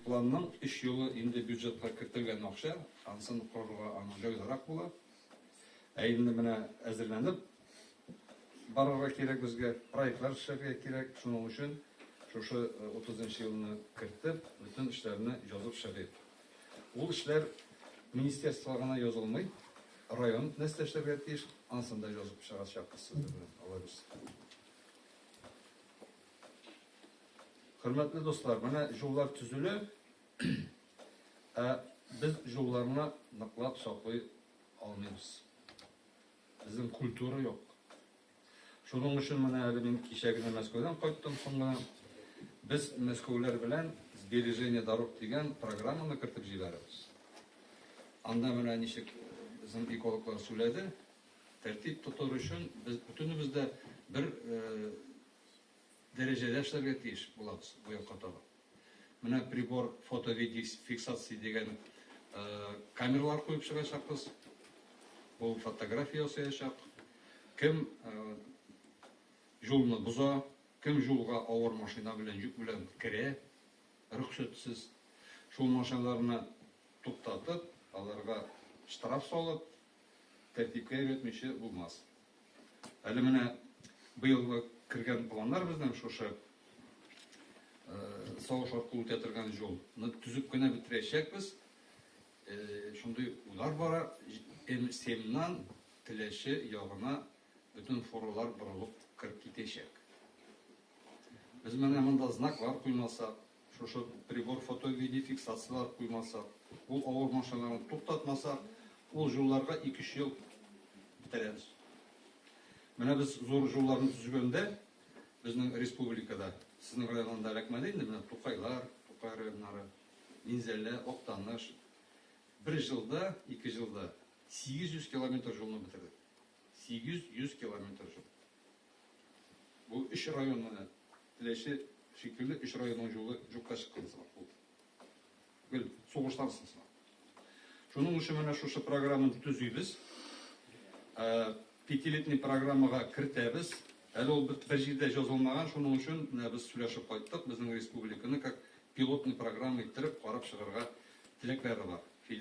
Планның өч юлы инде бюджетка кертелгән акча, ансын корырга аның җайлырак була. Ә инде менә әзерләнеп барырга кирәк безгә, проектлар эшләргә кирәк. Шуның өчен шушы 30 нчы елны кертеп, бөтен эшләрне язып чыгыйк. Ул эшләр министерствога гына язылмый, район нәрсә эшләргә тиеш, ансын да язып чыгачакбыз сезнең белән, Алла бирса. Хөрмәтле дуслар, менә җуллар төзелә, ә без җулларны ныклап саклый алмыйбыз. Безнең культура юк. Шуның өчен менә әле мин кичә генә Мәскәүдән кайттым соң гына. Без мәскәүләр белән сбережение дорог дигән программаны кертеп җибәрәбез. Анда менә ничек безнең экологлар сүләде, тәртип тотыр өчен без бүтәнебез дә бер э, дәрәҗәдә эшләргә тиеш булабыз бу якка таба. Менә прибор фотовидеофиксация дигән камералар куеп чыгачакбыз. Ул фотография ясаячак. Кем юлны боза, кем юлга авыр машина белән, йөк белән керә, рөхсәтсез. Шул машиналарны туктатып, аларга штраф салып, тәртипкә өйрәтмичә булмас. Әле менә быел кергән планнар безнең шушы сагыш аркылы үтә торган юлны төзеп кенә бетерәчәкбез. Шундый уйлар бара. М7ннан Теләче ягына бөтен фуралар борылып кереп китәчәк. Без менә монда знаклар куймасак, Шушы прибор фото-видефиксацияләр куймасак, бу авыр машиналарны туктатмасак, ул җулларга ике-өч ел бетерәбез. Менә без зур җулларны төзегәндә, безнең республикада, сезнең районында эләкмәде инде, менә Тукайлар, Тукай районнары, Минзәлә, Актаныш, бер җылда, ике җылда 800 километр җулны бетердек. 800 километр җул. Бу өч район менә Теләче шикелле өч районның җулы җукка чыккан сымак булды. Гел сугыштан соң сымак. Шуның өчен менә шушы программаны төзибез. Ә, Пятилетний программага кертәбез. Әле ул бер бер җирдә язылмаган, шуның өчен менә без сөйләшеп кайттык, безнең республиканы как пилотный программа иттереп карап чыгарга теләкләре бар. Федераль